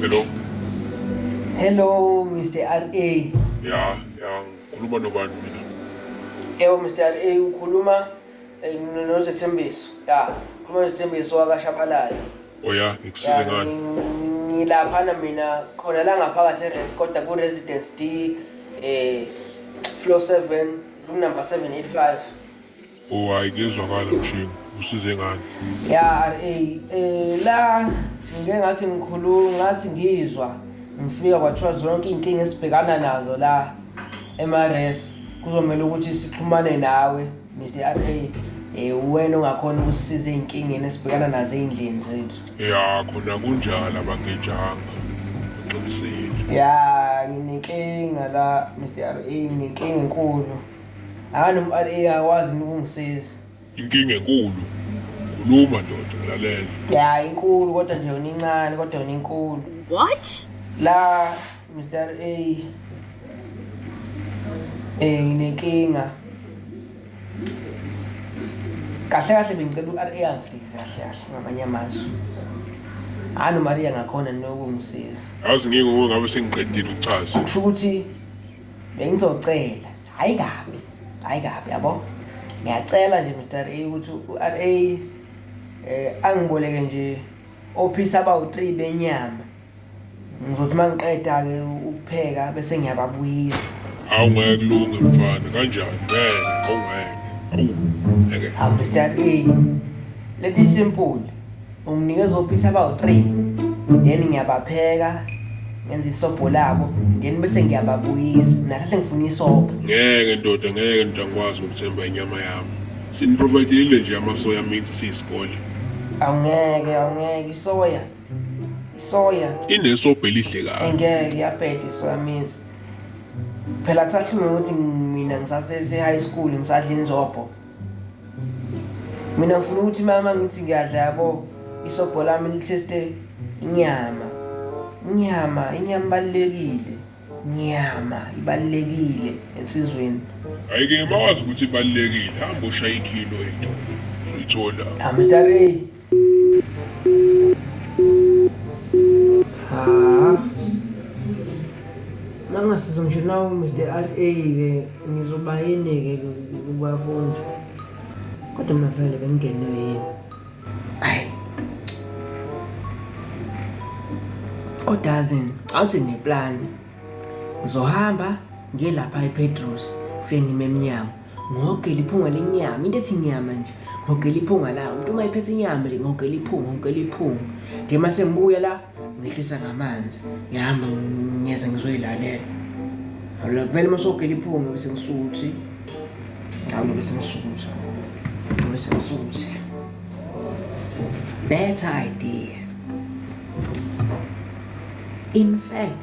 Hello. Hello, Mr. RA. Yeah, yeah. Ngikhuluma nobani mina? Yebo, Mr. RA ukhuluma eh, noZethembiso. Yeah. Ukhuluma noZethembiso wakashabalala. Oh ya, ngikusize ngani? Ngilaphana mina khona la ngaphakathi eRes kodwa ku Residence D eh floor 7 room number 785. Oh hayi kuyezwakala mshini. Usize ngani? Ya RA eh la ngike ngathi ngikhuluma ngathi ngizwa ngifika kwathiwa zonke izinkinga esibhekana nazo la emaRes kuzomela ukuthi sixhumane nawe Mr RA eh uwena ongakhona ukusisiza ezinkingeni esibhekana nazo ezindlini zethu. Ya khona kunjalo abangejanga. Uqinisile. Ya nginenkinga la Mr RA nginenkinga enkulu. Akani um RA akwazi ukungisiza. Inkinga enkulu. Khuluma ndoda ngalalela. Ya inkulu kodwa nje unincane kodwa uninkulu. What? La Mr A eh nginenkinga kahle kahle bengicela uRA angisize kahle kahle ngamanye amazwi hhayi umaria ngakhona nokungisiza yazi ngike ngoba ngabe sengiqedile ukuchaza kusho ukuthi bengizocela hhayi kabi hhayi kabi yabo ngiyacela nje mr a ukuthi u-r a um angiboleke nje ophisa abawu-three benyama ngizothi uma ngiqeda-ke ukupheka bese ngiyababuyisa hawu ngeke kulunge mfana kanjani ngeke hawu ngeke hawu ngeke hawu mr a let me simple unginikeza ophisi abawu-three then ngiyabapheka ngenza isobho labo then bese ngiyababuyisa nahlahle ngifuna isobho ngeke ndoda ngeke ndoda ngikwazi ukuthemba inyama yami siniprovayidile nje amasoya mithi siyisikole awungeke awungeke isoya soya inesobho elihle kabi engeke yabheda isoya means phela kusahlunga ukuthi mina ngisasese-high school ngisadla inzobho mina ngifuna ukuthi mama ngithi ngiyadla yabo isobho lami litheste inyama inyama inyama ibalulekile inyama ibalulekile ensizweni ayike mawazi ukuthi ibalulekile hamba ushaya ikhilo into uyithola amstare Mangasiza ngisho nawo Mr RA ke ngizoba yini ke kubafundi. Kodwa mavele bengenwe yini? Ayi. Kodwa azini awuthi ngeplan. Ngizohamba ngiye lapha ePetros ufike ngime emnyango. ngogela iphunga lenyama into ethi nyama nje ngogela iphunga la umuntu uma ephethe inyama nje ngogela iphunga ngogela iphunga nje uma sengibuya la ngehlisa ngamanzi ngihamba ngiyeza ngizoyilalela awula vele uma sogela iphunga bese ngisuthi awula bese ngisuthi bese ngisuthi better idea in fact